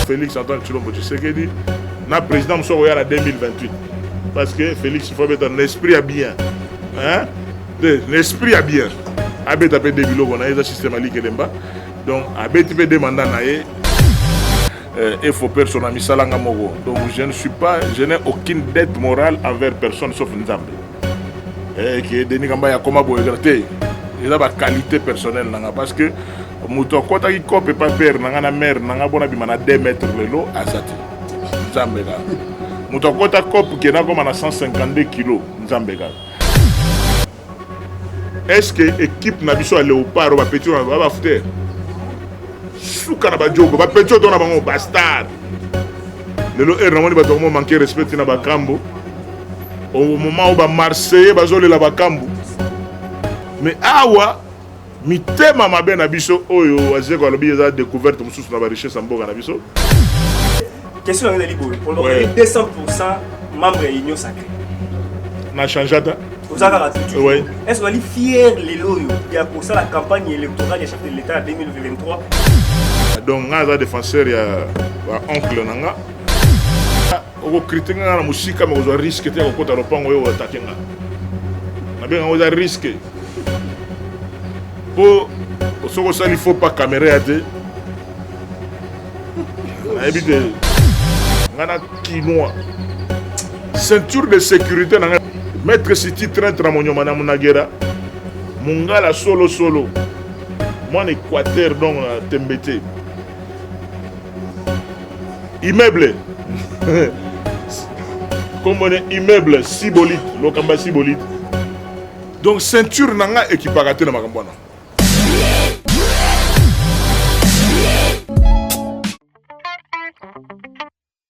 Felix Antoine Tshilombo Tshisekedi na président mosusu akoya na 2028 parce que Felix faut abeta na esprit ya bien hein de na esprit ya bien abeta mpe de biloko na ye eza système ya likelemba donc abeti mpe de mandat na ye euh, et faut personne à misalanga mogo donc je ne suis pas je n'ai aucune dette morale envers personne sauf Nzambe Eh, ke Denis Kambaya akoma boye te eza ba qualité personnelle na nga parce que moto akɔtaki cope epa pere na nga na mare na nga bona bima na 2 mètre lelo aza te nzambe kaka moto akɔta cope ke nakoma na 152 kilo nzambe kaka est ce que équipe na biso ya léopard bapeti oyo ba bafute suka na bajogo bapeti oyo to na bango bastar lelo heure namoni bato yango manke respect na bakambo au moment où ba marseillais bazolela bakambu mais awa mitema mabe na biso oyo azeko alobi eza découverte mosusu na barichesse ya mboka na biso question yango ezali boye olobeli 200 pourcent membre ya union sacré na change ata oza kaka tutu est ce ozali fier lelo oyo ya kosala campagne électorale ya chef de l'état ya 2023 donc ngai aza défenseur ya baoncle na nga oko critique nga na musika mais ozwa risque te ya kokota lopango yo atake nga nabenga yango eza risque mpo soki osali faux pas kamera ya te nayebi te nga na kinois ceinture de sécurité na nga maître siti trainte na monyoma na munagera mongala solosolo mwana équateur donc na tembe te immeuble nkombo ne immeuble sibolite lokamba sibolite donc ceinture na nga ekipaka te na makambo wana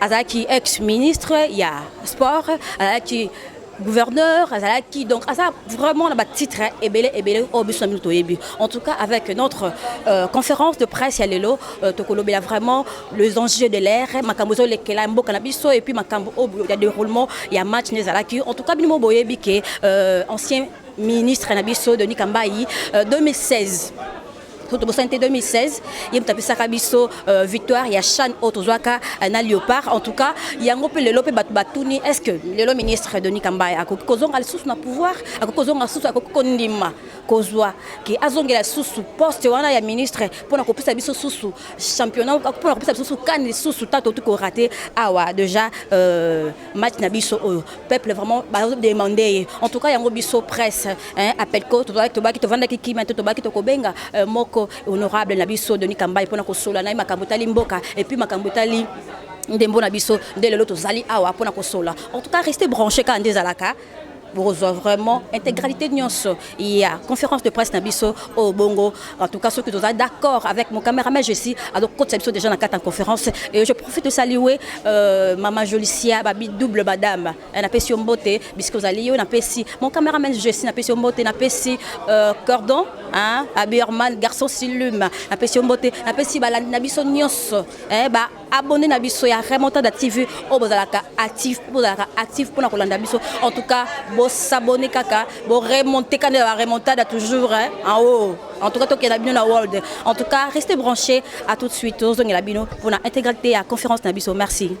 azalaki ex ministre ya sport azalaki gouverneur azalaki donc aza vraiment na batitre ebele ebele oyo biso na bino toyebi en tout cas avec notre euh, conférence de presse ya lelo euh, tokolobela vraiment les enjeux de l'air makambo ezolekela mboka na biso et puis makambo oyo ya déroulement ya match nde ezalaki en tout cas bino mo boyebi ke euh, ancien ministre na biso denis kambayi euh, 2016 soki tobosani te 2016 ye moto apesaka biso euh, victoire ya chane oyo tozwaka euh, na léopard en tout cas yango mpe lelo mpe bato batuni est ce que lelo ministre denis kambaya akoki kozonga lisusu na pouvoir akoki kozonga lisusu akoki kondima kozwa ke azongela lisusu poste wana ya ministre mpo na kopesa biso susu championnat mpo na kopesa biso susu kani lisusu ntango tokoki korate awa déjà euh, match na biso oyo peuple vraiment bazodemande ye en tout cas yango biso presse apelco tobaki tovandaki kima te tobaki tokobenga euh, moko honorable na biso denis kambai mpona kosola na ye makambo etali mboka epuis makambo etali ndembo na biso nde lelo tozali awa mpona kosola en tout cas reste branche kaka nde ezalaka bokozwa vraiment intégralité nyonso ya conférence de presse na biso oyo bongo en tout cas soki toza d'accord avec mon cameraman jessi azokotisa biso déjà na kati ya conférence et je profite de saluer euh, mama jolicia babi double badame eh, napesi yo mbote bisika ozali yo napesi mon cameraman jessi napesi yo mbote napesi euh, cordon hein, abirman garçon silume napesi yo mbote napesi balandi na biso nyonso eh, ba abonne na biso ya remontada tv oyo bozalaka actif bozalaka actif mpona kolanda biso en tout cas bosabone kaka boremonte kanda ya baremontada toujours en haut en tout cas tokenda bino na world en tout cas reste branché à tout de suite tozongela bino mpona intégralité ya conférence na biso merci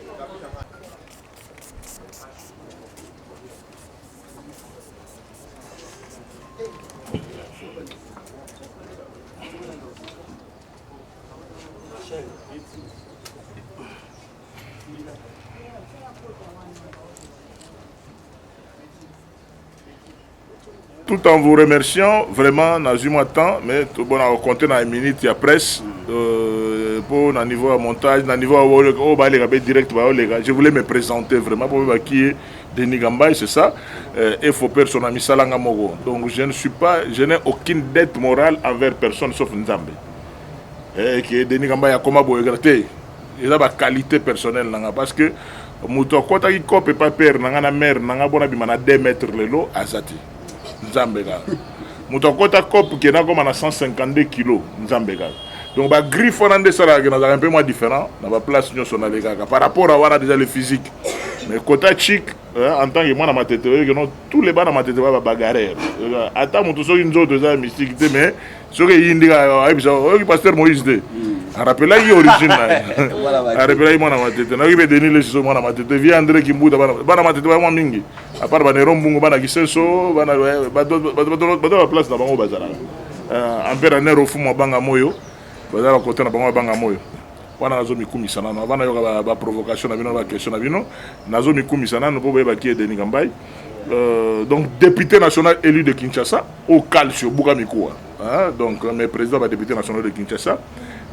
tout en vous remerciant vraiment nazwi mwa temps mais tobona kocompte na minute ya presse euh, mpo na niveau ya montage na niveau oyo baleka mpe direct baoleka je voulais me présenter vraiment mpo bakie Denis Gambay c'est ça euh, et faut personne misala nga moko donc je ne suis pas je n'ai aucune dette morale envers personne sauf Nzambe et eh, que Denis Gambay akoma boye te eza ba qualité personnelle nanga parce que moto akotaki cope pa père nanga na mère nanga bona bima na 2 mètres lelo azati nzambe kaka moto akota cope ke nakoma na 152 kilo nzambe kaka donc bagriffe wana nde esalaka ke nazalaka mpe mwa différent na baplace nyonso nalekaka par rapport a wana déjà le physique mais kota chic en tant que mwana matete oyoki no tous les bana matete ba babagarere ata moto soki nzoto eza ya mystique te mais soki eyi ndika ayebisa oyoki pasteur moïse te hmm. arapelaki ye origine na ye arapelaki mwana matete nayoki mpe denis lesiso mwana matete vie andré kimbuta bana matete bayamwa mingi apart banero mbungu bana kisenso bato ya place na bango bazalaka ampere euh, aner ofumu abanga moyo bazalaka kote na bango abanga moyo wana nazo mikumisa nano avant nayoka ba, ba provocation na bino ba question na bino nazo mikumisa nano po boyeba ki Denis Kambai euh, donc député national élu de Kinshasa au calcio buka mikuwa hein? donc mes présidents ba député national de Kinshasa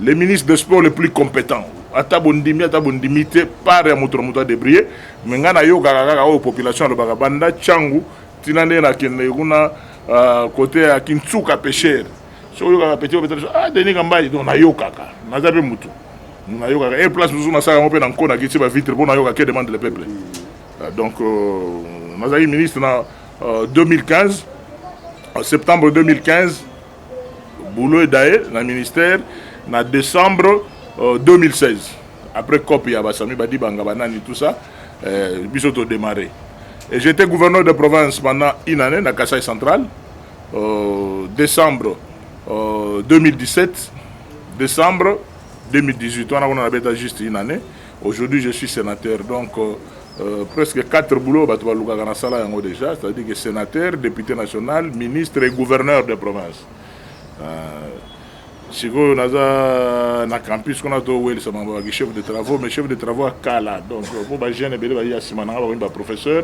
les ministres des sports les plus compétents ata bondimi ata bondimi te par ya moto na moto adebrille me ngai nayokaka kaka oyo population alobaka banda cangu ntina nde nakende kuna uh, kote ya kinsuka pêcheur soki oyokaka petit obeta biso ah denis kambai donc nayokaka naza mpe motu nayokaka e place mosusu nasala yango mpe na nko nakiti bavitre mpo nayoka ke demande le peuple ah, donc euh, nazalaki ministre na 2015 euh, septembre 2015 boulot edaye na ministère na décembre 2016 euh, après cop ya basami badibanga banani tout ça biso todémarre et j'étais gouverneur de province pendant une année na kasai central decembre 2017 decembre 2018 wana kuna nabeta juste une année aujourd'hui je suis sénateur donc euh, presque 4 boulot bato balukaka na sala yango déjà c'est à dire que sénateur député national ministre et gouverneur de province euh, sikoyo naza na campus kuna towelisa mambo baki chef de travaux mais chef de travaux ya kala donc mpo bajeune ebele baye ya nsima na nga bakomi baprofesseur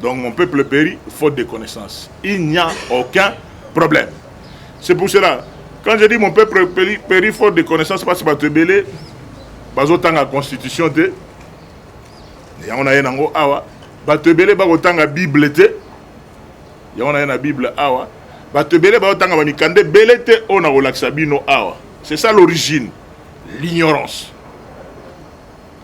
Donc mon peuple périt faute de connaissance. Il n'y a aucun problème. C'est pour cela, quand je dis mon peuple périt, périt faute de connaissance, parce que Batebele, bazotanga constitution te, yango na ye nango awa, bato ebele bakotanga bible te, yango na ye na bible awa, bato ebele bakotanga bamikanda ebele te oyo nakolakisa bino awa. C'est ça l'origine, l'ignorance.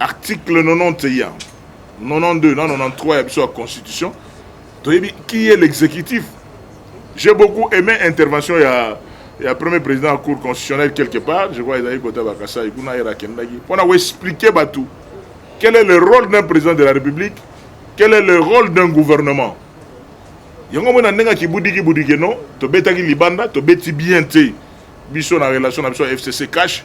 article 90 ya 92 na 93 ya biso ya constitution toyebi qui est l'exécutif j'ai beaucoup aimé intervention ya ya premier président ya cour constitutionnelle quelque part je crois ezalaki kota bakasai kuna yera akendaki mpo na koexplike bato quel est le rôle d'un président de la république quel est le rôle d'un gouvernement yango mona ndenge akibudiki budike no tobetaki libanda tobeti bien te biso na relation na biso ya fcc cash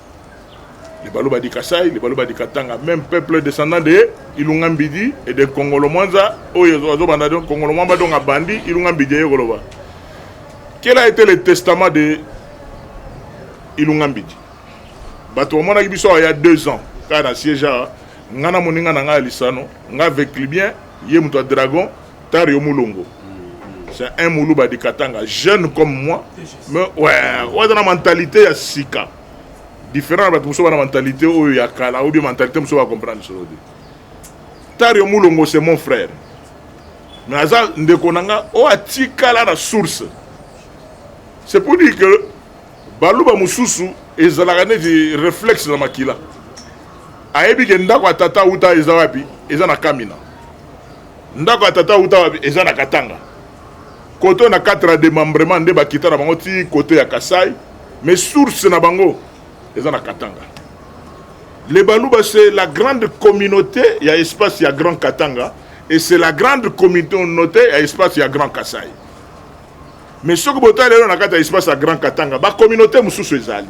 Les Baluba du Kassai, les Baluba du Katanga, même peuple descendant de Ilunga Mbidi et de Kongolo Mwanza, oyo azo banda donc Kongolo Mwamba donc abandi Ilunga Mbidi ye koloba. Quel a été le testament de Ilunga Mbidi? Bato bamonaki biso il y a deux ans, kaka na siège awa, nga na moninga na nga ya lisano, nga avec Libyen, ye moto ya Dragon, Tari yo mulongo. C'est un muluba de Katanga, jeune comme moi. Mais ouais, ouais dans la mentalité ya sika. Différent ba muso na mentalité oyo ya kala ou bien mentalité muso ba comprendre solo de. Tari yo mulongo c'est mon frère. Mais aza ndeko nanga o atikala na source. C'est pour dire que baluba mususu ezalaka neti réflexe na makila. ayebi ke ndako ya tata uta eza wapi eza na kamina Ndako ya tata uta wapi? Eza na Katanga. Koto na katra de membrement nde bakita na bango ti kote ya Kasai, mais source na bango eza na Katanga. Les Baluba c'est la grande communauté ya espace ya Grand Katanga et c'est la grande communauté ya espace ya Grand Kasai. Mais soki botali lelo na kati ya espace ya Grand Katanga, ba communauté mosusu ezali.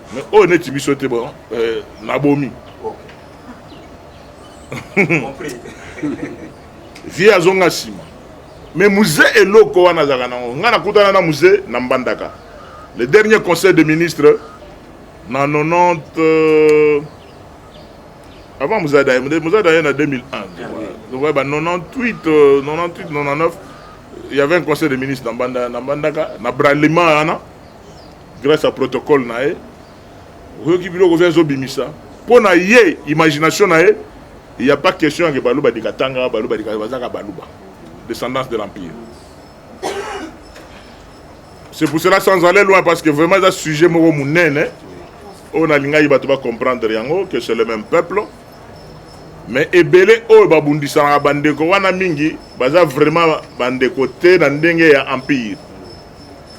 Mais oh neti biso te bon euh, na bomi. Compris. Vie azonga sima. Mais musée eloko wana zaka nango. Nga nakutana na musée na Mbandaka. Le dernier conseil des ministres na 90 euh, avant Mouzada, Mouzada est en 2001. Ah, Donc, ouais, bah, 98, euh, 98, 99, il y avait un conseil des ministres dans Banda, dans Bandaka, dans Bralima, hein, grace ya protocole na ye oyoki biloko oza ezobimisa mpo na ye imagination na ye il n'y a pas question ya baluba dikatanga baluba dika bazaka baluba descendance de l'empire c'est pour cela sans aller loin parce que vraiment eza sujet moko monene oyo nalingaki bato bacomprendre yango que c'est le même peuple mais ebele oyo babundisanaka bandeko wana mingi baza vraiment bandeko te na ndenge ya empire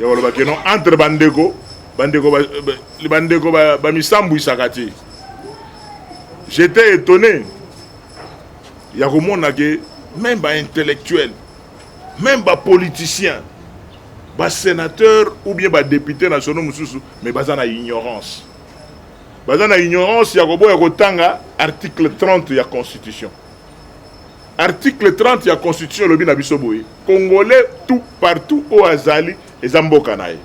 ya koloba keno entre bandeko bandeko bandeko bamisambwisaka te j'étais étonné ya komona ke même baintellectuel même bapoliticien basénateur ou bien badepute nationaux mosusu mais baza na ignorance baza na ignorance ya koboya kotanga article 30 ya constitution Article 30 ya constitution elobi na biso boye congolais tout partout oyo azali eza mboka na ye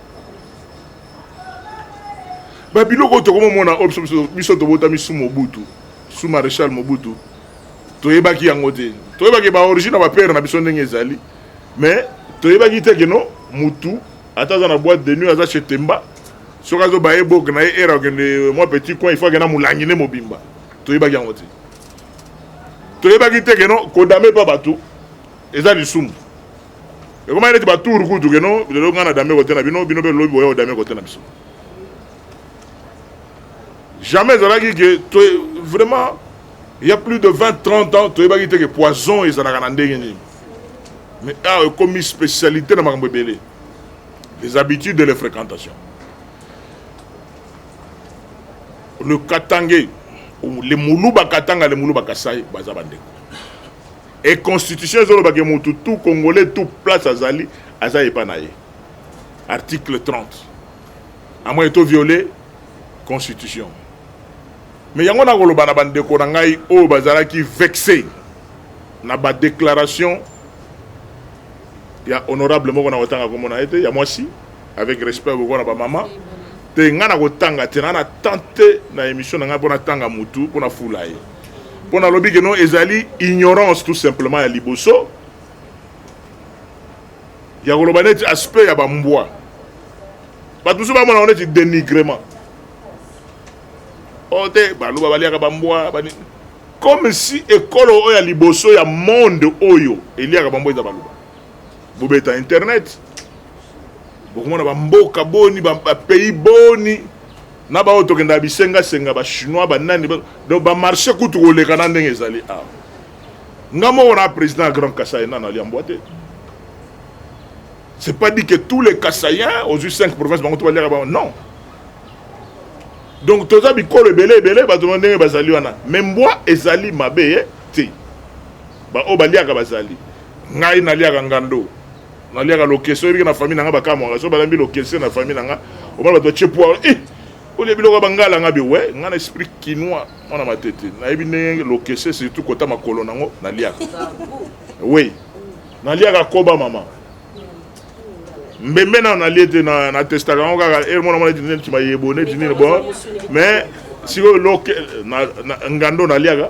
babiloko oyo tokomomona oyo biso biso tobotami su mobutu su maréchal mobutu toyebaki yango te toyebaki baorigine ya bapere na biso ndenge ezali mais toyebaki te keno mutu ata aza na boîte de nuit aza chez temba soki azoba ye boke na ye ere akende mwa petit coin il faut akenda molangi nde mobimba toyebaki yango te toyebaki te keno kodame pa bato eza lisumu ekomaki neti batour kutu keno lelo ngai na dame kote na bino bino mpe lobi boya kodame kote na biso jamais ezalaki ke to vraiment il y a plus de 20 30 ans toyebaki te ke poison ezalaka na ndenge nini mais awa ekomi spécialité na makambo ebele les habitudes et les fréquentations le katange le muluba katanga le muluba kasai baza bandeko e constitution ezoloba ke mutu tout congolais tout place azali aza epa na ye article 30 amwa eto viole constitution me yango nakoloba na bandeko na ngai oyo bazalaki vexe na badéclaration ya honorable moko na kotanga komona ye te ya mwasi avec respect boko na ba mama mpe ngai nakotanga te na tente na émission na ngai mpo natanga mutu mpo nafula ye mpo nalobi ke no ezali ignorance tout simplement ya liboso ya koloba neti aspect ya bambwa bato mosusu bamona ngo neti dénigrement o oh, te baluba baliaka bambwa bani comme si ekolo oyo ya liboso ya monde oyo eliaka bambwa eza baluba bobeta internet bokomona bamboka boni bapays boni na baoyo tokendaka bisengasenga bachinois banani donc bamarché kutu koleka na ndenge ezali awa ah. nga moko na président ya grand kasai nano aliambwa te c'est pas dit que tous les kasaïens ozwi 5 province bango to baliaka bango non donc toza bikolo ebele ebele bato ba ndenge bazali wana me mbwa ezali mabe ye eh, te baoyo baliaka bazali ngai naliaka ngando naliaka lokese oyebike na famille na ngai bakamwaka so balambi lokese na famille na ngai omona bato batye poire eh, olie biloko ya bangala ngai bewe ngai na esprit kinois mwana matete nayebi ndenge lokese surtout kota makolo nango naliaka oui naliaka koba mama mbembe nano nalie te na testaka yango kaka ere eh, mwana mwana tinene ti mayebo ne tinene bo mais sikoyo loke ngando naliaka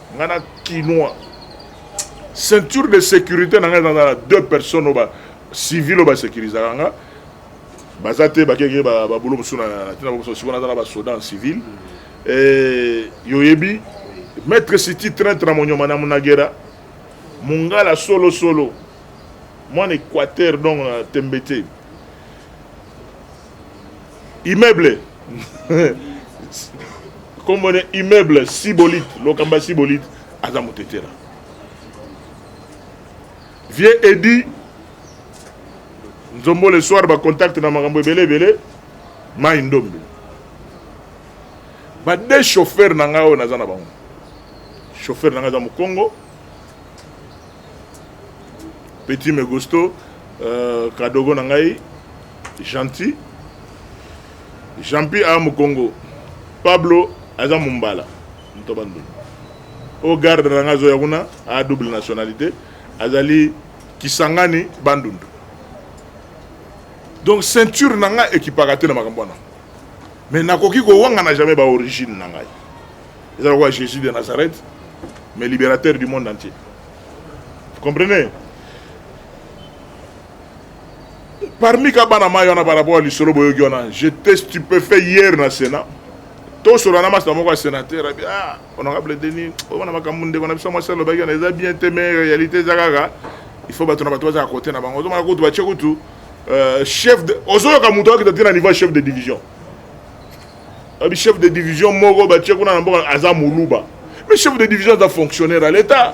nga na kinois ceinture de sécurité na ngai ezala deux personnes oyo bacivil oyo basecurisaka nga baza te bakeke babulo mosusu na ntina bamosusu sikoyo naza na basoda en civil eh, yoyebi maître siti traintre na monyoma na munagera mongala solosolo mwana équateur donc na tembe te immeuble nkombo ne immeuble sibolite lokamba ya sibolite aza motetela vieux edi nzombo le soir bacontacte na makambo ebele ebele mai ndombe bade chauffeur na ngai oyo naza na bango chauffeur na ngai aza mokongo petit megosto euh, kadogo na ngai Gentil. Jean-Pi a Mukongo. Pablo aza Mumbala. Mtoba Ndundu. Au garde na nga zoya kuna a double nationalité azali Kisangani Bandundu. Donc ceinture na nga ekipaka te na makambo wana. Mais nakoki kowanga na jamais ba origine na ngai. Eza lokola Jésus de Nazareth mais libérateur du monde entier. Vous comprenez? parmi ka bana mayi wana par rapport ya lisolo boyoki wana j'étais stupéfait hier na sénat tosola na masina moko ya sénateur abi ah honorable denis omona makambo ndeko na biso mwasi alobaki wana eza bien te mais réalité eza kaka il faut bato na bato bazala kote na bango ozomona kutu batie kutu euh, chef de ozoyoka moto akita te na niveau ya chef de division abi chef de division moko batie kuna na mboka aza moluba mais chef de division aza fonctionnaire ya l'état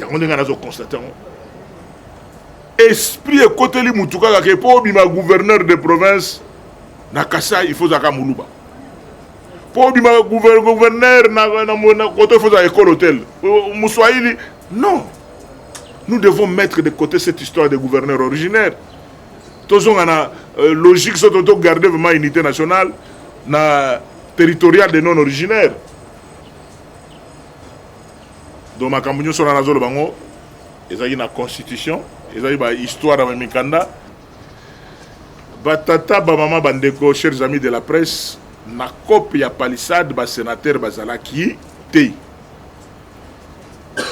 yango ndenge nazo constate yango esprit ekoteli motu kaka ke mpo obima gouverneur de province na kasai ifo ozalaka moluba mpo obima gouverneur na koto ifo ozala ekolo tel moswahili non nous devons mettre de côté cette histoire de gouverneur originaire tozonga na euh, logique soto togarde vraiment unité nationale na territorial de non originaire Donc makambo nyonso wana nazoloba yango ezalaki na constitution ezalaki ba histoire ya mikanda batata bamama bandeko chers amis de la presse na cope ya palissade basenatere bazalaki te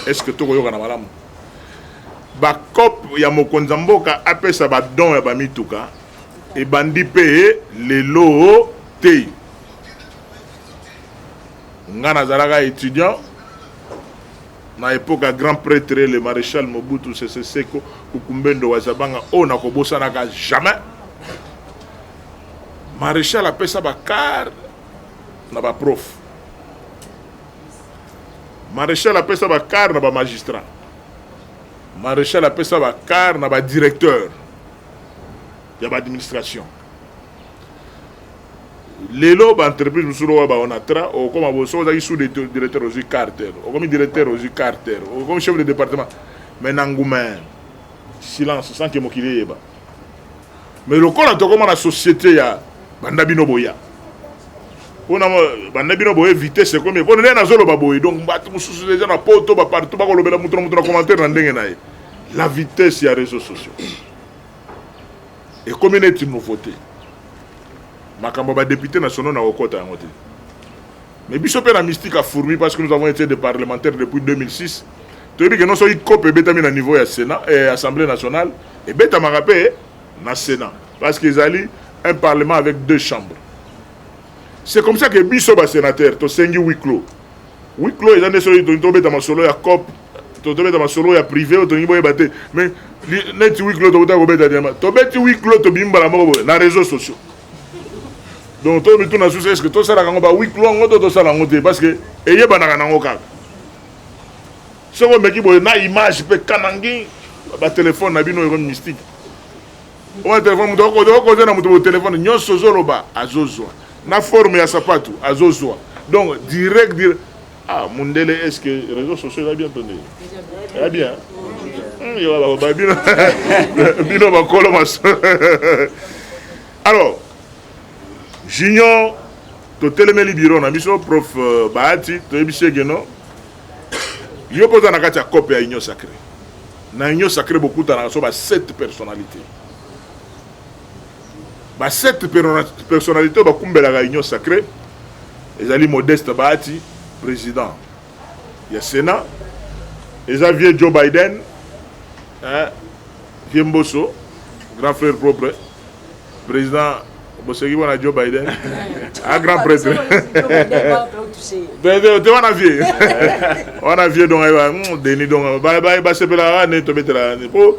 est ce que tokoyokana malamu bacope ya mokonzi ya mboka apesa badon ya bamituka ebandi mpe lelo te Nga nazalaka etudiant na epoque ya grand pretre le maréchal Mobutu Sese Seko Kukumbendo wa Zabanga oyo nakobosanaka jamais. Maréchal apesa ba car na ba prof. Maréchal apesa ba car na ba magistrat. Maréchal apesa ba car na ba directeur ya ba administration. lelo ba entreprise mosusu lokola ba onatra okoma bo soki ozalaki sous directeur ozwi carter okomi directeur ozwi carter okomi chef de département mais na ngumain silence sans que mokili eyeba mais lokola tokoma na société ya banda bino boya mpona banda bino boye vitesse ekomi mpona ndenge nazoloba boye donc bato mosusu deja na poto bapartout bakolobela moto na moto na commentaire na ndenge na ye la vitesse ya réseau sociaux Ekomi neti nouveauté. Makambo ba députés nationaux na kokota yango te. Mais biso pe na mystique a fourmi parce que nous avons été des parlementaires depuis 2006. Toyebi que non soki cope ebetami na niveau ya Sénat et eh, Assemblée nationale ebetamaka pe na Sénat parce que ezali un parlement avec deux chambres. C'est comme ça que biso ba sénateurs tosengi huis clos. Huis clos eza nde soki tobeta masolo ya cope totobeta masolo ya privé oyo tolingi boyeba te mais neti huis clos tokotaka kobeta diamba tobeti huis clos tobimi mbala moko boye na réseaux sociaux donc to mituna susu est ce que tosalaka yango ba huis clos yango to tosala yango te parce que eyebanaka nango kaka soki omeki boye na image mpe kanangi batelefone na bino eko mystique oyo telefone moto okoze na moto botelefone nyonso ozoloba azozwa na forme ya sapatu azozwa donc direct direct Ah, mundele est-ce que réseaux sociaux eza bien to nde eza bien hmm, yo baloba bino bino bakolo maso alors junior totelemeli biro na biso prof euh, bahati toyebisi eke no yo mpe oza na kati ya cope ya union sacré na union sacré bokutanaka so ba 7 personnalité ba sept personnalite oyo bakumbelaka union sacrée ezali modeste bahati président ya sénat eza vieux joe biden eh, vieux mboso grand frère propre président boseki wana joe biden a grand prêtre te wana vie wana vie donc ayeba hmm, deni donc basepelaka wane tobetela po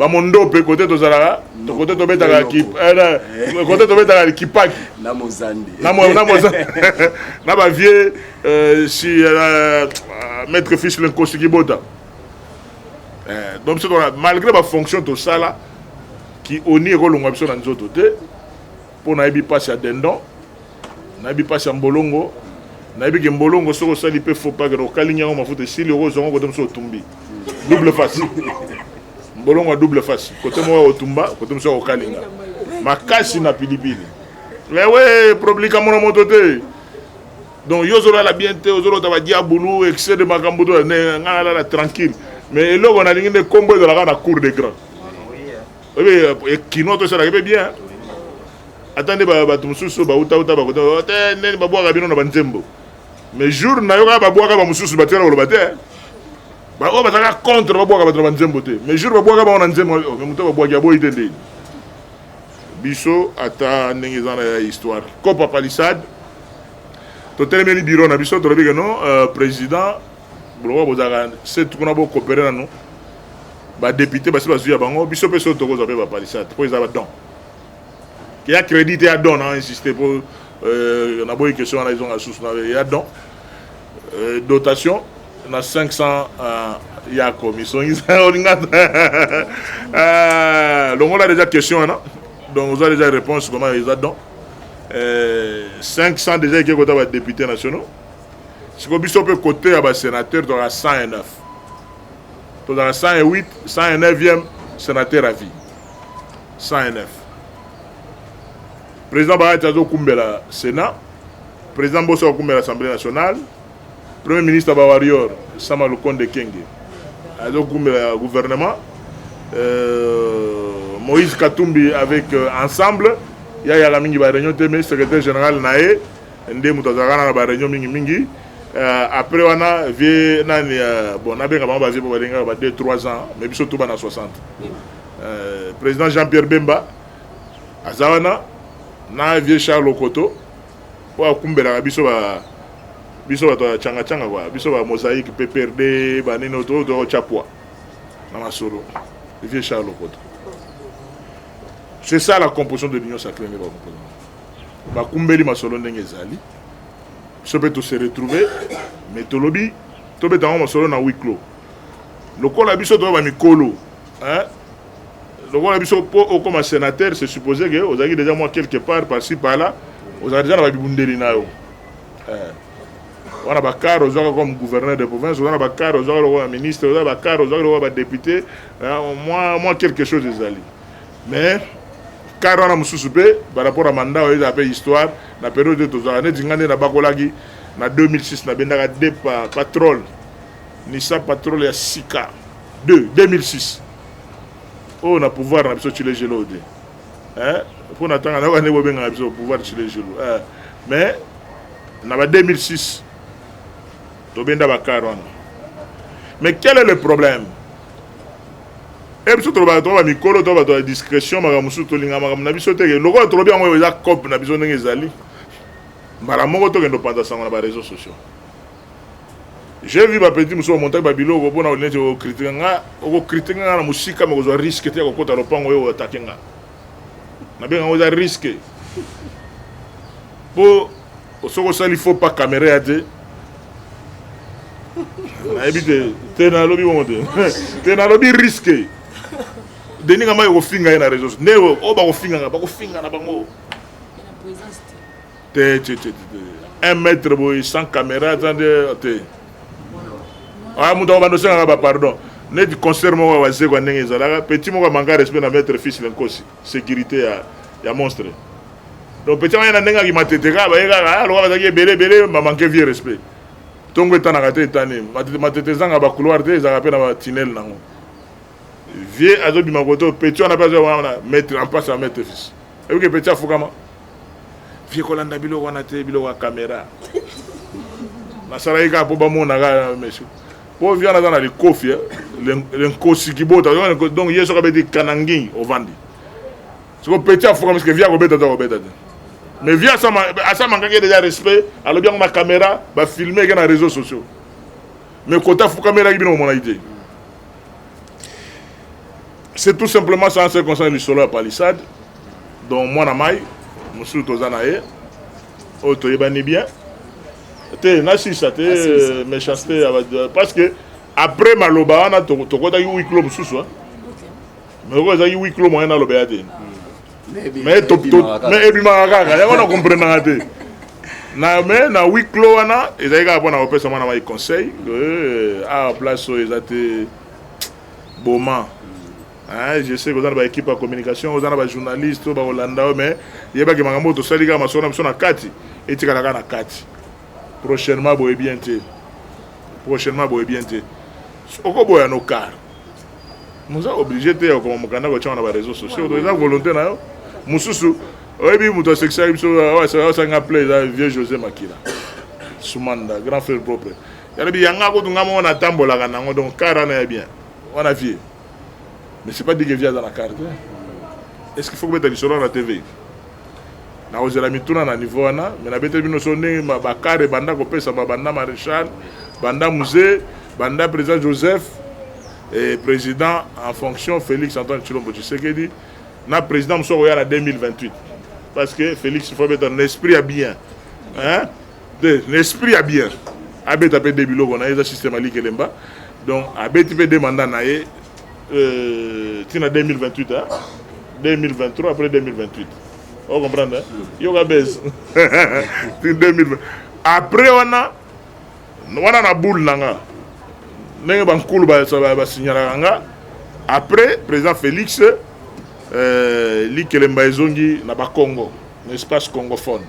ba mondope kote tozalaka kote tobetaka eh, eh, kote tobetaka kipaki na mozandi na bavieux euh, si euh, maître fils le nkosi kibota eh, donc biso malgré bafonction tosala ki oni ekolongwa biso na nzoto te mpo nayebi mpasi ya dendon nayebi mpasi ya mbolongo nayebi ke mbolongo soki osali mpe faux pas kena okalingi yango mafuta esili okozwa yango kote mosusu otumbi double face mbolongo ya double face kote moko ya otumba kote mosusu ya kokalinga makasi na pilipili ewe problika mona moto te donc yo ozolala bien te ozolota badiabulu excès de makambo to ngai nalala tranquille mais eloko nalingi nde nkombo ezalaka na cour de grand oyebi kinois tosalaka mpe bien ata nde bato mosusu bautauta bakota oh, te ndeni babwaka bino na banzembo mais jour nayoka babwaka bamosusu batikala koloba te baoyo bazalaka contre babwaka bato na banzembo te mais jour babwaka bango na nzembo oh, moto babwaki aboyi te ndeni biso ata ndenge eza na ya histoire copa palissade totelemeli biro na biso tolobi ke non euh, président Bulongo bozalaka setu kuna bo coopérer nanu ba député basi bazui ya bango biso pe so tokozwa pe ba palissade po eza ba don ya crédit te ya don na insister po euh, na boyi question wana ezonga susu na ya don euh, dotation na 500 euh, ya komisongisa olinga euh, longola déjà question wana donc oza déjà réponse comment eza don euh, 500 déjà eke kota ba député nationaux Siko biso pe cote ya ba senateur tozalaka 109 tozalaka 108 109e senateur à vie 109 président bayati azokumbela sénat président mboso akokumbela assemblée nationale premier ministre ba warrior sama lukonde kenge azokumbela gouvernement euh, moïse katumbi avec euh, ensemble yayaka mingi ba réunion te mais secrétaire général na ye nde moto azalaka na ba reunion mingi mingi uh, après wana vie nani uh, bon nabenga bango bavie po balingaka ba 2 3 ans mais biso tuba na 60 uh, président jean pierre bemba aza wana na vieux charles okoto oyo akumbelaka biso ba biso bato ya changa changa kwa biso ba mosaïque pprd banini oyo tokotya pwa na masolo vieux charles okoto c'est ça la composition de l'union sacrée nde bakomposana bakumbeli masolo ndenge ezali biso mpe tose retrouve mais tolobi tobeta yango masolo na huis clos lokola biso toyo bamikolo lokola biso mpo okoma sénateur se suppose ke ozalaki déjà mwa quelque part parci parla ozalaka déjà na babibundeli na yo eh. wana bakare ozwaka comme gouverneur de province oza na bakare ozwaka lokola ministre oza bakare ozwaka lokola badepute eh, mwa quelque chose ezali mais kare wana mosusu mpe par rapport ya manda oyo ezala mpe histoire na periode oyo tozalaka neti ngai nde nabakolaki na 2006 nabendaka de patrole nisa patrole ya sika 2 2006 oyo na pouvoir na biso chile gelo te mpo na ntanga nayoka nde bobengaka biso pouvoir chile gelo eh, mais na ba 2006 tobenda bakare wana mais quel est le problème e biso tolobaka toka bamikolo to bato ya discrétion makambo mosusu tolinga makambo na biso teke lokola tolobi yango oyo eza cope na biso ndenge ezali mbala moko tokende opanza sango na bareseau sociaux j'ai vu bapeti mosusu bamontaki babiloko mpona olineti okritika nga okokritika nga na mosika makozwa riske te ya kokota lopango oyo atake nga nabenga yango eza riske mpo Soki osali faux pas camera ya te nayebi te te nalobi bongo te te nalobi riske denis kama ekofinga ye na réseau nde oyo oh, bakofingaka bakofinga na bango te te te te un mètre boye sans caméra aza nde te aya moto akobanda osengaka bapardon neti concert moko ya wazekwa ndenge ezalaka petit moko amanga respect na mètre fils lenkosi securite ya ya monstre donc petit wana na ndenge akimatete kaka baye kaka aloka bazalaki ebele ebele bamanke vieux respect ntongo etanaka te etani matete ezanga bacouloir te ezalaka mpe na batinele nango vieux azobima koto petit wana mpe azoya wana maître en passe ya maître fils eyoki petit afukama vie kolanda biloko wana te biloko ya kamera nasalaki kaka mpo bamonaka mesu po viana aza na likofi eh? le nkosi kibota donc ye soki abeti kanangi ovandi siko peti afukami sike via kobeta to akobeta te mais via asamangaki deja respect alobi yango na caméra bafilme eke na réseau sociaux mais kota afukamelaki bino komonaki te c'est tout simplement ça en ce concerne lisolo ya palissade donc mwana mai mosusu toza na ye oyo toyebani bien te nasisa te euh, méchanceté euh, parce que après maloba wana tokotaki huis clos mosusu mais oyo ezalaki huis clos moyen nalobela te hmm. mais ebimaka kaka yango na comprenaka te na me na huis clos wana ezali kaka mpo na kopesa mwana mai conseil awa euh, ah, place oyo eza te boma Hein, je sais que oza na ba équipe ya communication oza na ba journaliste oyo bakolanda yo mais yebaki makambo oyo tosali kaka masolo na biso na kati etikala kaka na kati prochainement boye bien te prochainement boye bien te okoboya no car moza oblige te ya kokoma mokanda kotyama na bareseau sociaux eza volonté na yo mosusu oyebi moto asekisaki biso asanga pla eza vieux josé makila sumanda grand frère propre yalobi yanga kutu nga moko natambolaka nango donc kara na ya bien wana vie mais c'est pas dit que vie aza na carte est ce qu'il faut kobeta lisolo na tv nakozela mituna na niveau wana mais nabeteli bino so ndenge bakare banda kopesama banda maréchal banda musée banda président joseph et président en fonction félix antoine tshilombo tshisekedi na président mosusu akoya na 2028 parce que félix faut abeta na esprit ya bien hein? te na esprit ya bien abeta mpe de biloko na ye eza système aliki elemba donc abeti mpe de mandat na ye euh, ntina 2028 hein? 2023 après 2028 o comprendre yoka base 2020 après wana wana na boule na nga ndenge bankulu basignalaka nga après président félix euh, likelemba ezongi na bakongo na espace congophone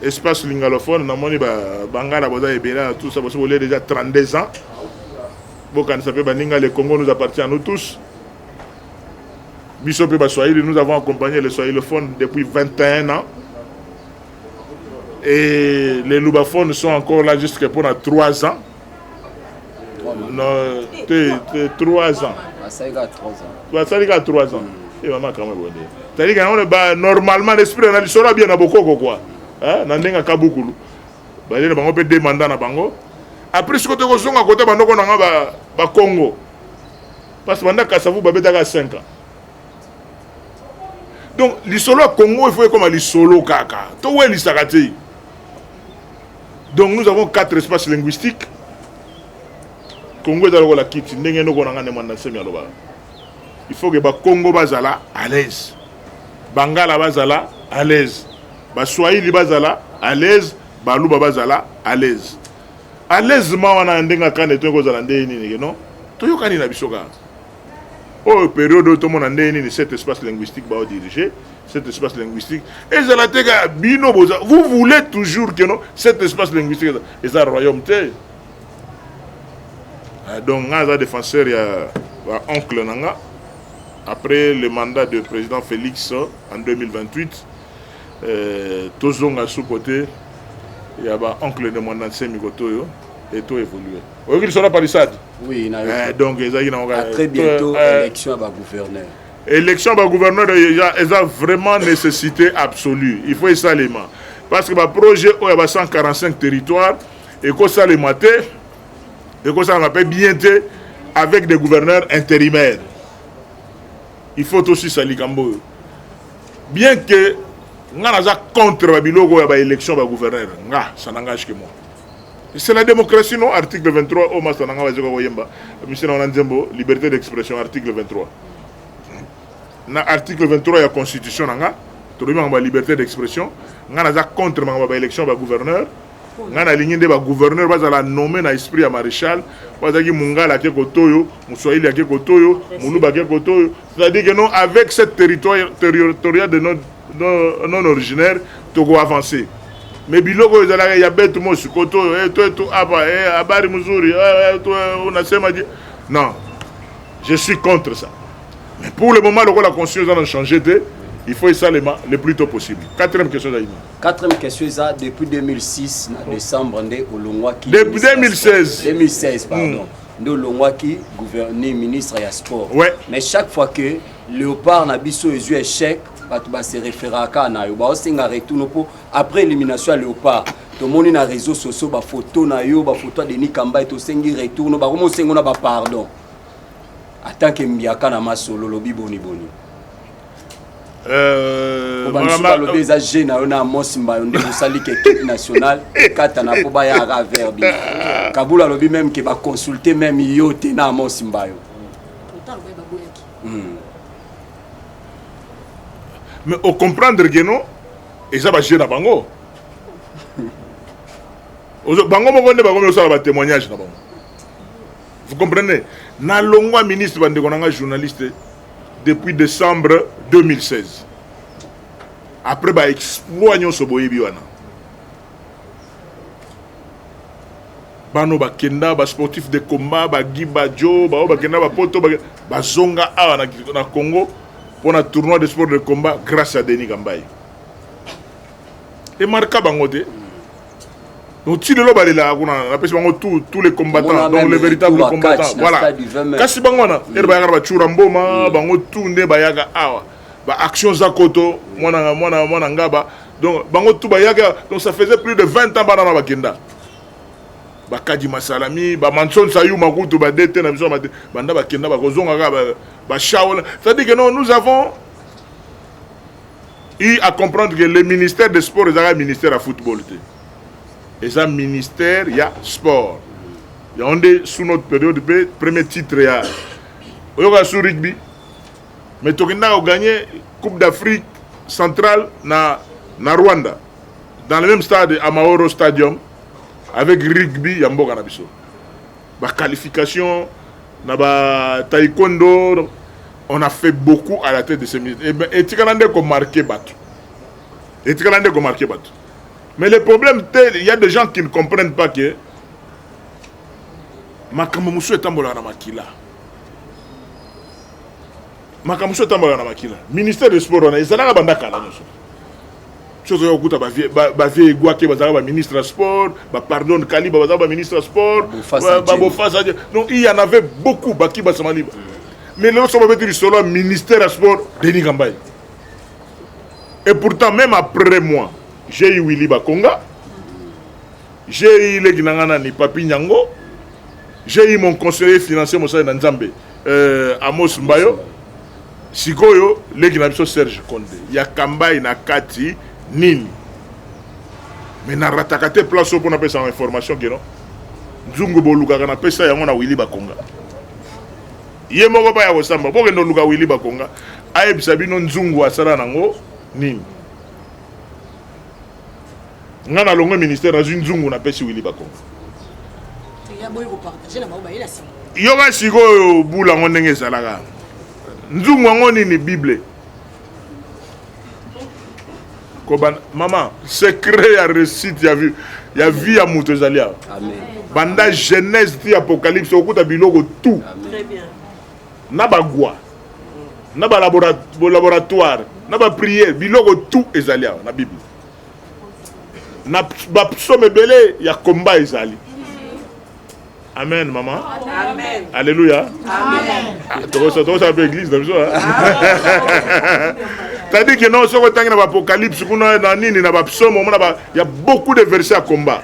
espace lingalophone namoni bangala boza ebele na tout ça bosi bolie déjà 32 ans bokanisa mpe baninga le congo nous appartient à nous tous biso mpe baswahili nous avons accompagné le swahilophone depuis 21 ans et les lubaphones sont encore là jusque mpona 3 ans Non, t'es, t'es 3 ans. Basali kaka 3 ans. Basali kaka 3 ans. Mm. Et maman kama bonde. Tali kana on ba normalement l'esprit na lisolo bien na bokoko quoi. Hein, na ndenga kabukulu. Ba lele bango pe demanda na bango. Après ce que toko zonga kota bandoko na nga ba ba Congo. Parce que banda kasavu ba betaka 5 ans. Donc lisolo ya Congo il faut ekoma lisolo kaka. To welisaka te. Donc nous avons quatre espaces linguistiques. Congo eza lokola kiti ndenge noko na ngane mwana nsemi alobaka. Il faut que ba Congo bazala à l'aise. Bangala bazala à l'aise. Ba Swahili bazala à l'aise, ba Luba bazala à l'aise. À l'aise ma wana ndenge akane to kozala ndenge nini non? Toyokani na biso kaka. oyo periode oyo tomona ndenge nini cet espace linguistique bao dirige cet espace linguistique ezala te kaka bino boza vous voulez toujours que non cet espace linguistique eza royaume te ah, donc nga aza défenseur ya ba oncle na nga après le mandat de président félix en 2028 euh, tozonga sous côté ya ba oncle de mwanda nsemi kotoyo et to évoluer oyoki lisolo ya palissade oui, eh, donc ezalaki nango ah, très bientôt eh, eh. élection ya bagouverneur élection ya bagouverneur eza vraiment nécessité absolue il faut esalema parce que baprojet oyo ya ba 145 territoire ekosalema te ekosalama mpe bien te avec des gouverneurs intérimaires il faut tosisa likambo oyo bien que nga naza contre babiloko ya baélection bagouverneur nga ça n'engage que moi C'est la démocratie non article 23 oyo masta na ngai bazoka koyemba misina wana nzembo liberté d'expression article 23 na article 23 ya constitution na ngai tolobi makambo ya liberté d'expression ngai naza contre makambo ya baélection ba gouverneur ngai nalingi nde bagouverneur bazala nomme na esprit ya maréchal po azalaki mungala ake kotoyo moswahili ake kotoyo moluba ake kotoyo c'est-à-dire que non avec cette territoire territorial de notre non originaire toko avancer mais biloko oyo ezalaka ya bete mosi koto oyo eh, toetu apa eh, habari mzuri eh, unasema je non je suis contre ça mais pour le moment lokola constitution eza na change te il faut esalema le plus tôt possible quatrième question ezali quatrième question eza depuis 2006 na décembre nde olongwaki depuis 2016 2016 pardon hmm. nde olongwaki gouverneur ministre ya sport ouais. mais chaque fois que Leopard na biso ezui echec bato ba se referaka kaka na yo baosenga retour no mpo après élimination ya leopard tomoni na réseau sociaux bafoto na yo bafoto ya denis kambai tosengi retour no bakomi osengo na bapardon atanke mbiaka na masolo olobi boniboni euh, bamisusu balobi eza je na yo na amos mbayo nde bosali ke équipe nationale ekatana mpo bayaka aver bino kabula alobi meme ke baconsulte meme yo te na amos mbayo hmm. mais au comprendre que non eza ba jeu na bango bango moko nde bakomi kosala ba témoignage na bango vous comprenez na longwa ministre bandeko na ngai journaliste depuis décembre 2016 après ba exploit nyonso boyebi wana bano bakenda ba sportif de combat ba Guy Badjo bao bakenda ba poto bazonga awa na, na Congo mpona tournoi de sport de combat grâce à Denis Kambaye emarka bango te donc ti lelo balelaka kuna napesi bango tout tous les combattants donc les véritables combattants voilà kasi bango wana mm. ere bayaka na bacura mboma mm. bango tout nde bayaka awa ba action za koto mwana mwana mwana ngaba donc bango tout bayaka donc ça faisait plus de 20 ans bana na bakenda bakadi masalami bamanson sayuma kutu badete na biso banda bakenda bakozonga kaka bashaola c'est-à-dire que non nous avons eu à comprendre que le ministère de sport ezalaka ministère ya football te eza ministère ya sport yango nde sous notre période mpe premier titre ya oyoka sous rugby Mais tokenda ko gagner Coupe d'Afrique centrale na na Rwanda dans le même stade Amahoro Stadium avec rugby ya mboka na biso. Ba qualifications na ba taekwondo on a fait beaucoup à la tête de ces minutes. Et ben etikala nde ko marquer bato. Etikala nde ko marquer bato. Mais le problème tel il y a des gens qui ne comprennent pas que makambo mosusu etambolaka na makila makambo so etambaka na makila ministère de sport wana ezalaka banda kala nyonso so ozoya kokuta bavie egwake bazalaka baministre ya sport bapardon kaliba bazalaka baministre ya sport babofasa donc il y en avait beaucoup baki basamaliba mais lelo so babeti lisolo ya ministère ya sport denis kambai et pourtant même après moi j'ai eu willy bakonga GI leki na nga nani papi nyango GI mon conseiller financier mosali na nzambe euh, amos mbayo sikoyo leki na biso serge conde ya kambai na kati nini me narataka te place oyo mpo napesaka information keno nzungu bolukaka napesa yango na wili bakonga ye moko baya kosamba bokende oluka wili bakonga ayebisa bino nzungu asala nango nini nga nalongwe ministère nazwi nzungu napesi wili bakongo yoka sikoyo bula yango ndenge ezalaka nzungu yango nini bible kobanda mama secret ya réussite ya vie ya vie ya moto ezali awa banda genèse ti apocalypse okuta biloko tout Très bien. na bagwa na balaboratoire na bapriere biloko tout ezali awa na bible na bapsome ebele ya komba ezali amen mama alleluya ah, tokosala mpe eglise na biso tadi ke non soki otangi na baapocalypse kuna na nini na bapsome omona ya beaucoup de verset ya combat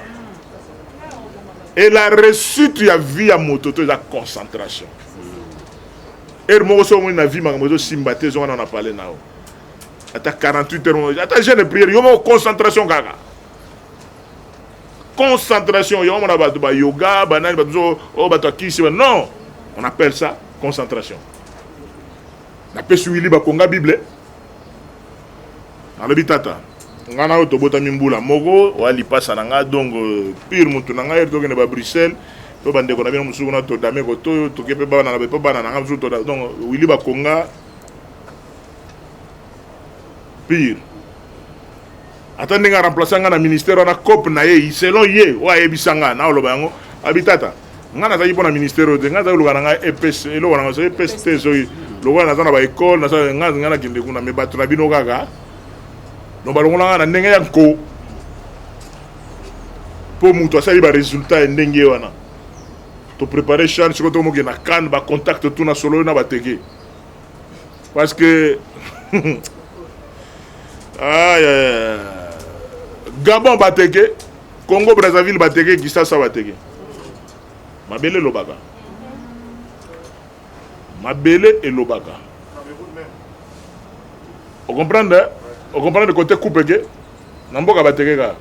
et la réussite ya vie ya moto to eza concentration heure moko soki omoni na vie makambo ezosimba te ezonga na na pale na yo ata 48 heures moko ata jeune prière yo moko concentration kaka concentration yango mona bato ba yoga banani bato oyo oh, bato akisi non on appelle ça concentration napesi wili bakonga bible alobi tata ngai na oyo tobotami mbula moko oya lipasa na ngai donc euh, pire motu na ngai tokende ba bruxelles to bandeko na bino mosusu kuna todame kotoyo toke mpe bana mpe bana na ngai mosusu toda donc wili bakonga pire ata ndenge aremplace nga na ministère wana cope na ye selon ye oyo ayebisa nga na oloba yango abitata nga nazalaki mpo na ministère oyo te nga nazalaki lokola na ngai epes eloko na ngai so epes te soki lokola naza na baekole naza nga nga nakende kuna me bato na bino kaka no balongola nga na ndenge ya nko mpo moto asali baresultat ya ndenge wana toprepare chane sikoyo tokomokende na kane bacontact tuna solo na bateke Parce que ah, yeah. Gabon bateke, Congo Brazzaville bateke, Kisasa bateke. Mabele lobaka. Mabele et lobaka. Vous comprenez hein? Vous comprenez le côté coupe que na mboka bateke ka.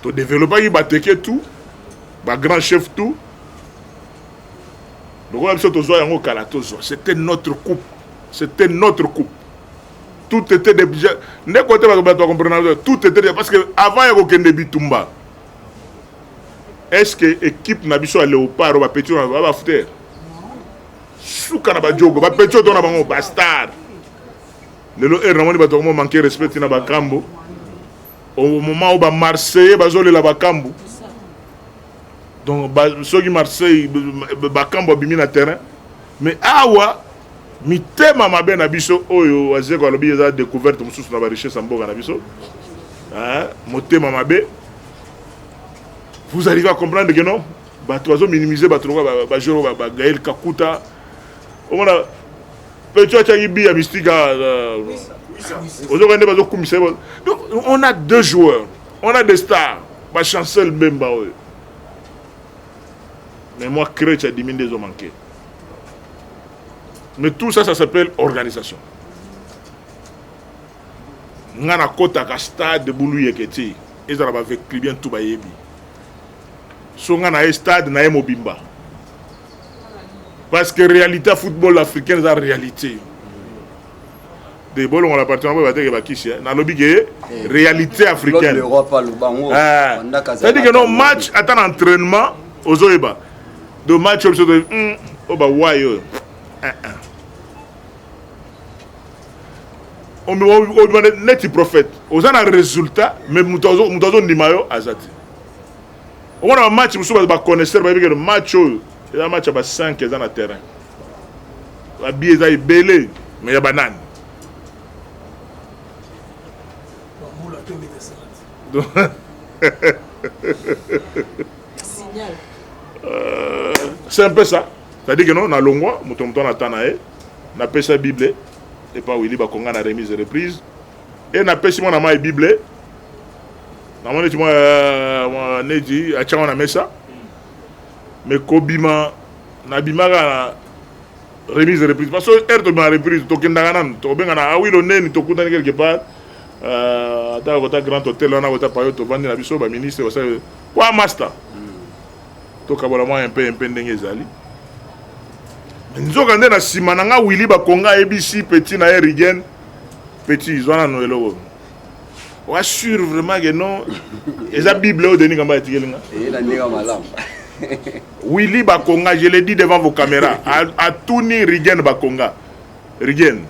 To développer bateke tout, ba grand chef tout. lokola biso tozwa yango kala tozwa c'était notre coupe c'était notre coupe tout était déjà ndeko te bato bato comprendre tout était déjà parce que avant ya kokende bitumba est-ce que équipe na biso ya léopard ba petit na ba fouter suka na ba jogo ba petit to na bango ba star lelo heure namoni bato yango manque respect na bakambo au moment où ba marseillais bazolela bakambo donc soki marseille bakambo abimi na terrain mais awa mitema mabe na biso oyo wazeko alobi eza découverte mosusu na barichesse ya mboka na biso motema mabe vous arrivez à comprendre que non bato bazominimize bato lokola bajoro bagael kakuta omona peto atyaki bi ya mystika ozokende bazokumisa donc on a deux joueurs On a des stars, ba chancel Mbemba oyo. Mais moi, crèche a diminué des hommes manqués. Mais tout ça, ça s'appelle organisation. nga na kotaka stade bulu yeke te ezala bavecli bien tout bayebi so nga na ye stade na ye mobimba parce que réalité ya football africaine eza réalité te bolongola parti yango bateke bakisi eh. nalobi ke eh, réalité africaine cetadi ke no match ata na entraînement ozoyeba do match oyo biso oyo hmm, oh, bawai oyo eh, obima neti prophète oza na résultat mais moto azondima yo aza te omona bamatch mosusu baconnaisseur bayebi ke match oyo eza match ya ba 5 eza na terrain Ba billets eza ebele mais ya ba nani? Signal. Euh, c'est un peu ça. C'est-à-dire que non, na longwa, moto moto na tana e, na pesa Bible, et pas Willy Bakonga na remise et reprise, et na pesi mwana mai Bible, na mwana ti mwa euh, neti, a tchama na mesa, mais kobima, Na bimaka na remise reprise parce que heure tobima reprise tokendaka nanu tokobengana awilo ah neni tokutani quelque part euh, ata kota grand hotel wana kota payo tovandi na biso baministre basali kwa master tokabola mwa mpe mpe ndenge ezali nzoka nde na nsima na nga wili bakonga ayebisi petit na ye rigen petit zwa nano eloko oa sur vraiment ke non eza bible oyo denis kamba etikeli nga Willy Bakonga je le dis devant vos cameras atuni Rigen Bakonga Rigen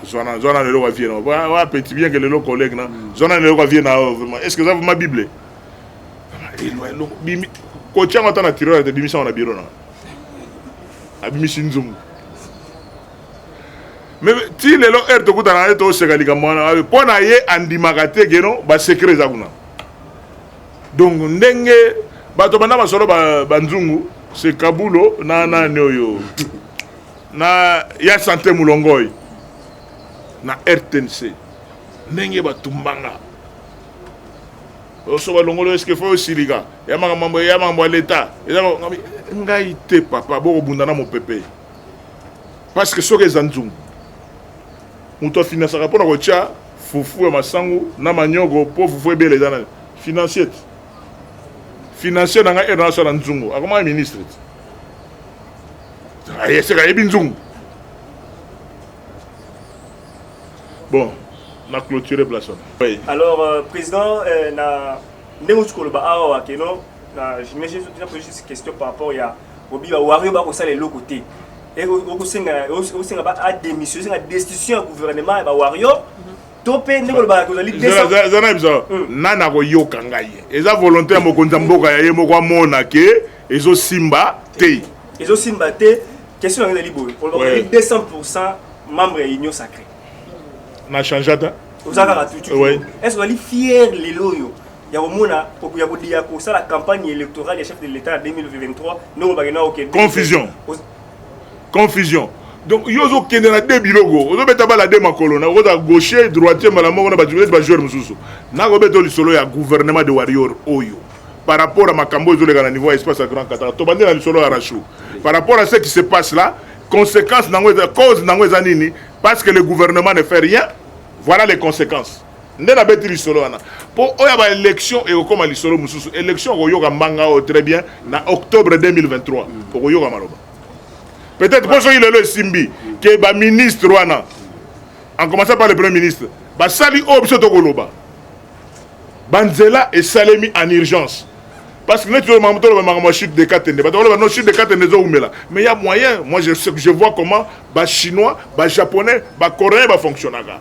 zwana zwana lelo kwa vie na wa wa petit bien que lelo collègue na zwana lelo kwa vie na yo vraiment est-ce que ça vraiment bible elo elo bimi kotia ngo ata na tiroir te bimisa ngo na bureau na abimisi nzungu me ti lelo heure tokutana na ye toseka likambo wana mpo na ye andimaka te keno basecret eza kuna Donc ndenge bato banda masolo ba, ba nzungu se kabulo na nani oyo na ya sante mulongoi na rtnc ndenge batumbanga oso balongolo eske fo osilika ya makambo ya makambo ya leta eza ngai te papa bokobunda na mopepe parce que soki eza nzungu Moto afinasaka mpo na kotya fufu ya masangu na maniogo mpo fufu ebela eza na financier te. Financier na ngai erna asala nzungu akomaka ministre te. Ayeseka ayebi nzungu. Bon, na clôturer place wana. Oui. Alors euh, président euh, na ndenge oti koloba awa wakeno na j'imagine ozopesa mpe juste question par rapport ya obi ba wario ba kosala eloko te okosenga osenga ba a démission osenga destitution ya gouvernement ya ba wario mhm. to mpe ndenge olobaka kozali eza na biso hmm. nani akoyoka ngai eza volonté ya mokonzi ya mboka ya ye moko amona ke ezosimba te ezosimba te question yango ezali boye olobaka 200 pourcent membre ya union sacré na change ata oza kaka tutu est ce ozali fier lelo oyo ya komona ya kodiya kosala campagne électorale ya chef de l'état ya 2023 ndenge obake na okende confusion confusion donc yo ozokende na de biloko ozobeta bala de makolo na okota gaucher droitier mbala moko na bajournaliste bajoueur mosusu nakobeta lisolo ya gouvernement de warrior oyo par rapport à makambo ezoleka na niveau ya espace ya grand katara tobandi na lisolo ya rachou par rapport à ce qui se passe là conséquence nango eza cause nango eza nini parce que le gouvernement ne fait rien voilà les conséquences nde nabeti lisolo wana mpo oyo ya baélection ekokoma lisolo mosusu élection okoyoka mbanga oyo très bien na octobre 2023 okoyoka maloba peut-être mpo soki lelo esimbi ke baministre wana en commençant par le premier ministre basali oyo biso tokoloba banzela esalemi en urgence parce que neti toloba toloba makambo ya chute de katende bato bakoloba no chute de katende ezowumela mais ya moyen moi je, je vois comment bachinois bajaponnais bacoréen bafonctionnaka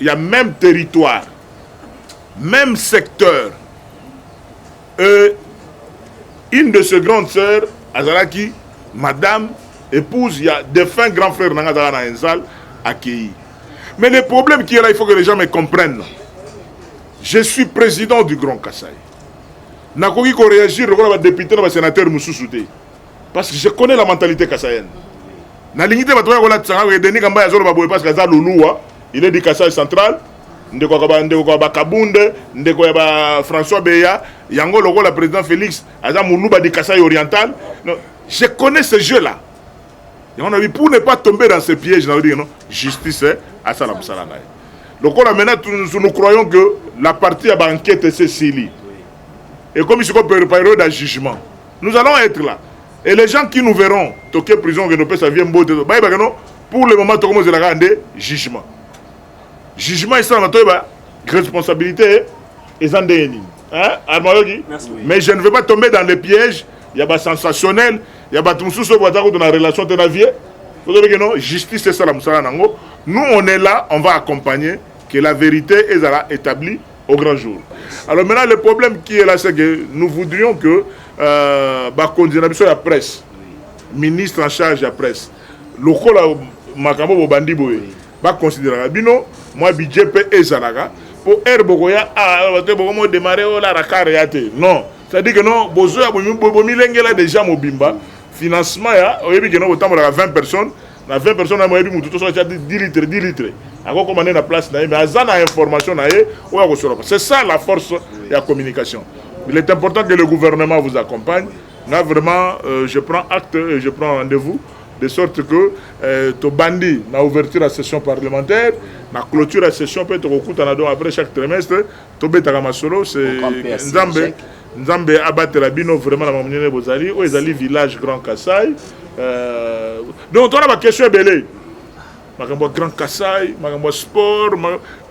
ya meme territoire meme secteur euh, une de ses grandes sœurs azalaki madame épouse ya défunt grand frère na nga azalaka na enzal akei mais le problème qui est là il faut que les gens me comprennent je suis président du grand kasai nakoki koréagir lokola badepute na basénateur mosusu te parce que je connais la mentalité kasaïenne nalingi te bato bakolatisa nga koye denis kambaya azoloba boye parce que aza luluwa il est du kasai central ndeko ya bakabunde ndeko ya ba françois beya yango lokola président félix aza moluba du kasai oriental non, je connais ce jeu là yango nabi pour ne pas tomber dans ce piège nabi non justice eh, asala mosala na ye lokola maintenant nous croyons que la partie ya baenquête esesili ekomi sikoyo période ya jugement nous allons être là et les gens qui nous verront toke prison okende opesa vie mbote bayebaka no pour le moment tokomozela kaka nde jugement jugement esalama toyeba responsabilité eza ndenge nini armayoki mais je ne veux pas tomber dans les pièges ya basensationnel ya bato mosusu oyo baza kutu na relation te na vie tozobeke no justice esala mosala na yango nous on est là on va accompagner que la vérité ezala établie au grand jour. Alors maintenant, le problème qui est là, c'est que nous voudrions que euh, bakonzi na biso ya presse, ministre en charge ya presse, lokola makambo bobandi boye, baconsideraka bino mwa budget mpe ezalaka mpo heure bokoya ah, te bokomo démarre oyo la rakar ya te non c'est-à-dire que non bozoya bomilengela déjà mobimba financement ya oyebi ke no botambolaka 20 personnes na 20 personnes na moyebi mutu to soki atia 10 litre 10 litre akokoma nde na place na ye mais aza na information na ye oyo akosoloka c'est ça la force ya communication il est important que le gouvernement vous accompagne nga vraiment euh, je prends acte et je prends rendez-vous de sorte que euh, tobandi na ouverture ya session parlementaire na clôture ya session mpe tokokutana donc après chaque trimestre Tobetaka masolo se Nzambe Nzambe abatela bino vraiment na mamunene bozali oyo ezali village Grand Kassai euh, donc tona ba question ebele makambo ya Grand Kassai makambo ya sport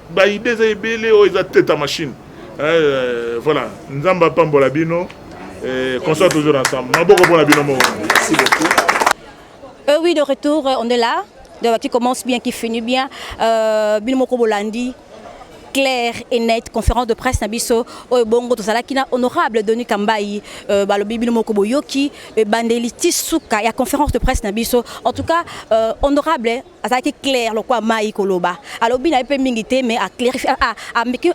ba idée eza ebele oyo eza teta machine euh, voilà Nzambe apambola bino et qu'on soit toujours ensemble maboko mpona bino moko merci beaucoup Euh, oui, de retour, euh, on est là. Donc, qui commence bien, qui finit bien. Euh, Bilmoko Bolandi, clair et net conférence de presse na biso oyo bongo tozalaki na honorable Denis Kambayi euh, balobi bino moko boyoki ebandeli ti suka ya conférence de presse na biso en tout cas euh, honorable azalaki claire lokola mai koloba alobi na ye mpe mingi te mais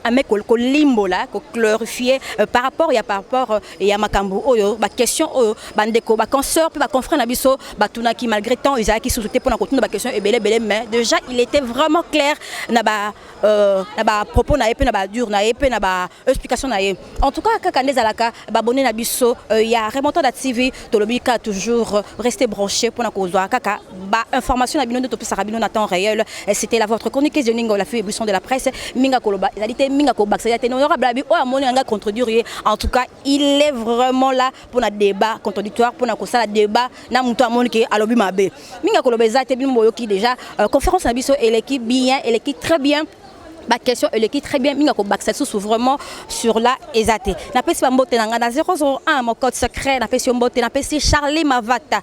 ame kolimbola koclarifie euh, par rapport ya par rapport euh, ya makambo oyo baquestion oyo bandeko baconsoeur mpe baconfrère na biso batunaki malgré temps ezalaki susu te mpo na kotuna baquestion ebele ebele mais déjà il était vraiment clair na ba euh, na bapropos na ye mpe na badure na ye mpe na explication na ye en tout cas kaka nde ezalaka babone na biso euh, ya remontada tv tolobi kaka toujours euh, reste branché mpona kozwa kaka bainformation na bino nde topesaka bino na temps réel euh, c'était la votre chroniqueuse de ninga olafi émission de la presse minga koloba ezali te minga kobakisa ya te honorable abi oyo amoni na ngai contredire ye en tout cas il est vraiment là mpona débat contradictoire mpona kosala débat na moto amoni ke alobi mabe minga koloba eza te bino boyoki déjà conférence na biso eleki bien eleki très bien ba question eleki très bien mingi akobakisa lisusu vraiment sur la eza te napesi bambote na ngai na 001 mon code secret napesi yo mbote napesi charlie mavata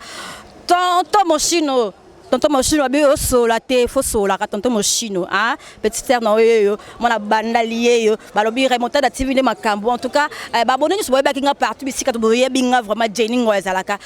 tonto moshino tonto moshino abi osola te fosolaka tonto moshino a petite sere na oyo yo mwana bandali ye yo balobi remontada tv nde makambo en tout cas eh, babone nyonso boyebaki nga partout bisika boyebi nga vraiment jeni ngo ezalaka